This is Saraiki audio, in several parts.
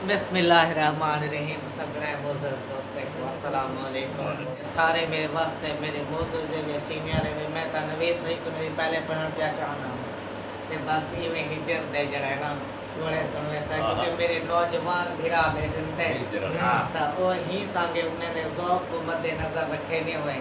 بسم اللہ الرحمن الرحیم سگھڑے معزز دوستیں کوں السلام علیکم سارے میرے واسطے میرے معزز دے وے سینئر دے وے میں تاں نوید بھائی کوں نوید پہلے پڑھن پیا چاہنا ہوں تے بس ایویں ہجر دے جڑا ہے نا گھوڑے سن ویسا کیونکہ میرے نوجوان بھرا بیٹھن تے تاں او ہی سانگے انہیں دے ذوق کوں مد نظر رکھے نے ہوئے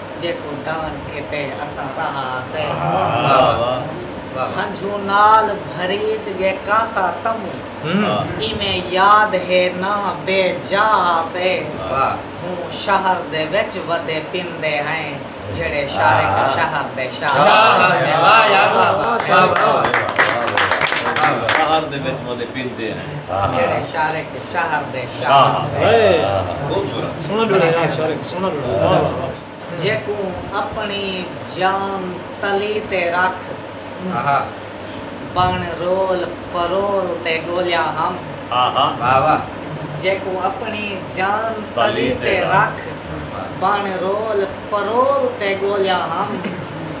جیکوں دان کیتے اساں رہا سے۔ ہنجھوں نال بھریج گے کاسا تموں۔ ایویں یاد ہے نہ بے جا ہا سے۔ ہوں شہر دے وچ ودے پیندے ہیں جیڑھے شارق شہر دے شاہ ہن۔ شہر دے شاہ جیکوں اپݨی جان تلی تے رکھ بݨ رول پرول تے ڳولیا ہم جیکوں اپݨی جان تلی تے رکھ بݨ رول پرول تے ڳولیا ہم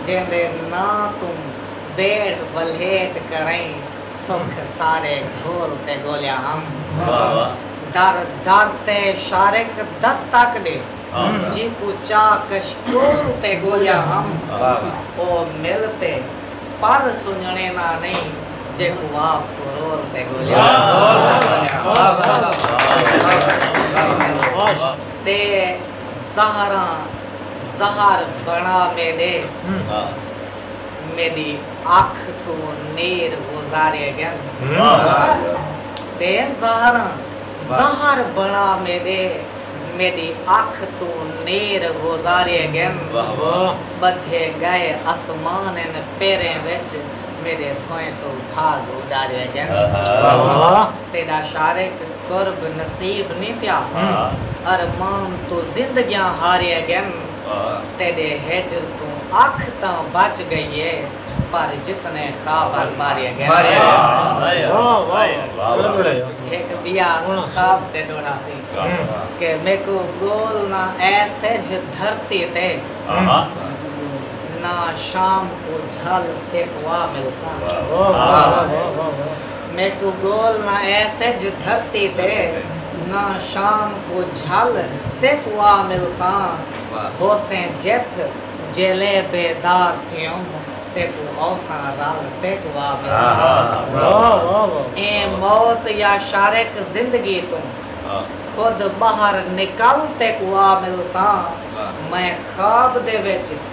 جیندے ناں توں ٻیڑھ ولھیٹ کرئیں سکھ سارے گھول تے گولیا ہم۔ در در تے شارق دستک ݙے۔ جیکوں چاہ کشکول تے گولیا ہم۔ او مل تے پر سنڄݨے ناں نئیں۔ جیکوں آپ کوں رول تے گولیا ہم۔ ݙے زہراں زہر بݨا میݙے۔ میݙی اکھ توں نیر گزارے ڳن۔ تے زہراں زہر بݨا میݙے۔ میݙی اکھ توں نیر گزارے ڳن۔ ٻدھے ڳئے اسمان ان پیریں وچ۔ میݙے بھوئیں توں بھاڳ اݙارے ڳن۔ تیݙا شارق قرب نصیب نی تھیا۔ ارمان توں زندگیاں ہارے ڳن۔ تیݙے ہجر توں اکھ تاں بچ ڳئی اے پر جتنے خاور ماریا ڳئن۔ ہک ٻیا خواب تے ݙوہڑا سی کہ میکوں ڳول نہ اے سجھ دھرتی تے نہ شام کوں جھل ایکوا ملساں۔ میکوں گول نہ اے سجھ دھرتی تے نہ شام کوں جھل تیکوں آ ملساں ہوسیں جتھ جیلے بیدار تھیوم تیکوں اوساں رل تیکوں آ ملساں ایں موت یا شارک زندگی توں خود ٻاہر نکل تیکوں آ ملساں میں خواب دے وچ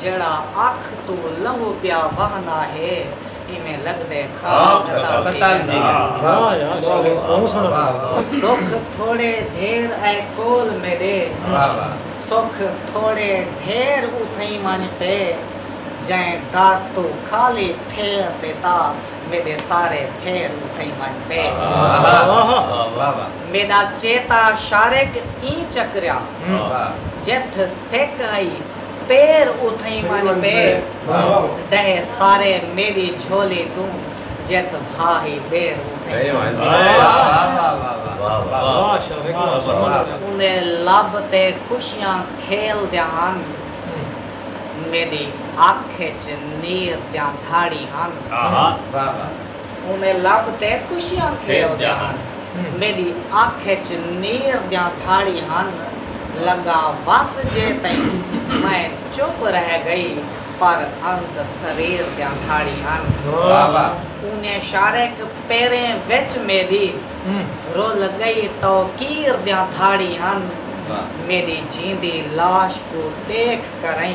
جیڑھا اکھ توں لہو پیا وہندا ہے ایویں لگدے خواب قتل تھی گھن۔ ڈکھ تھوڑے ڈھیر اے کول میڈے سکھ تھوڑے ڈھیر اتھئیں ونج پے جئیں در توں خالی پھیر ڈتا میڈے سارے پھیر اتھئیں ونج پے۔ میݙا چیتا شارک ایں چکریا جتھ سک ہئی پیر اتھئیں ونڄ پے ݙہہ سارے میݙی جھولی توں جتھ بھا ہئی دیر اتھئیں اوندے لب تے خوشیاں کھیل دیاں ہن میݙی اکھ اچ نیر دیاں دھاڑی ہن۔ انہیں لب تے خوشیاں کھیل دے ہن۔ میڈی اکھ اچ نیر دیاں دھاڑی ہن۔ لگا وس جے تئیں میں چپ رہ گئی پر انت سریر دیاں دھاڑی ہن۔ انہیں شارک پیریں وچ میڈی رل گئی توقیر دیاں دھاڑی ہن۔ میڈی جیندی لاش کوں ڈیکھ کرئیں۔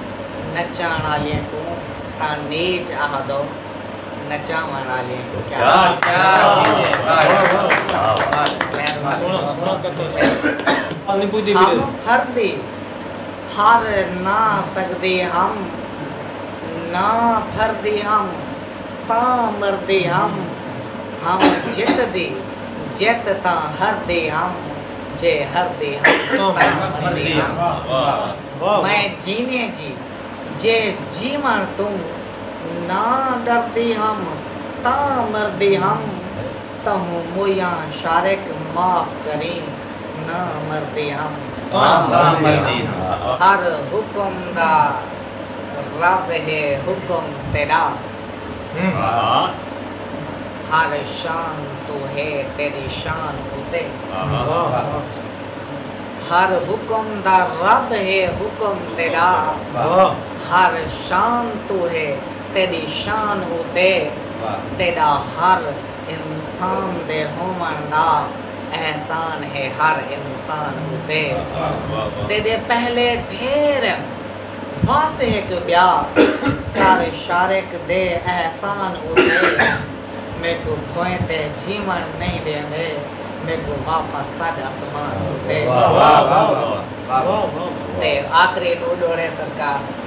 نچاݨ آلیاں کوں تاں نیچ آہدو نچاوݨ آلیاں کوں کیا ہم پھردے پھر نہ سڳدے ہم نہ پھردے ہم تاں مردے ہم ہم جتدے جت تاں ہردے ہم جے ہردے ہم تاں مردے ہم۔ میں جیویں جی جے جیوݨ توں نہ ݙردی ہم تاں مردی ہم تہوں مویاں شارق معاف کریں نہ مردی ہم تاں مردی ہم۔ ہر حکم دا رب ہے حکم تیݙا ہر شان توں ہے تیݙی شان اتے۔ ہر حکم دا رب ہے حکم تیݙا ہر شان توں ہے تیݙی شان اتے تیݙا ہر انسان دے ہووݨ دا احسان ہے ہر انسان اتے تیݙے پہلے ڈھیر ہن بس ہک ٻیا کر شارق دے احسان اتے میکوں کوئیں تے جیوݨ نئیں ݙیندے میکوں واپس سڄ اسمان ݙتے تے آخری ݙو ݙوڑے سرکار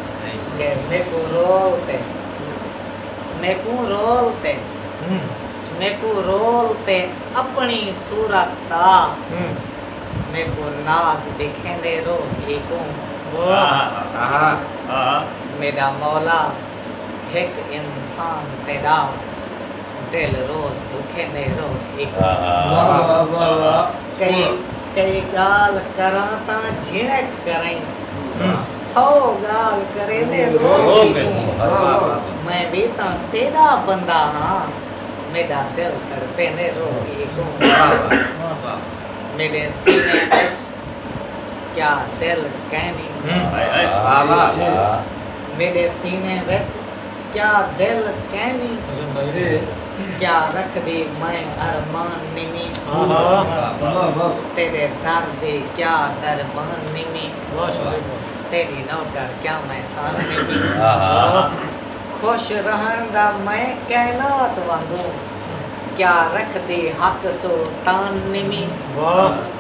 دے میکوں رو اتے میکوں رو اتے میکوں رو اتے اپݨی صورت دا میکوں ناز ݙکھیندے رو میکوں میݙا مولا ہک انسان تیرا دل روز بکھے میں روہے کئی کئی گال کراں تاں جھنک کریں سو گال کرے میں روہے کوں میں وی تاں تیرا بندہ ہاں میڈا دل تڑپے میں روہے کوں میڈے سینے وچ کیا دل کینی میڈے سینے وچ کیا دل کینی کیا رکھ دی میں ارمان نیمی تیرے در دی کیا درمان نیمی تیری نوکر کیا میں خان نیمی خوش رہن دا میں کائنات وانگوں کیا رکھ دی حق سلطان نیمی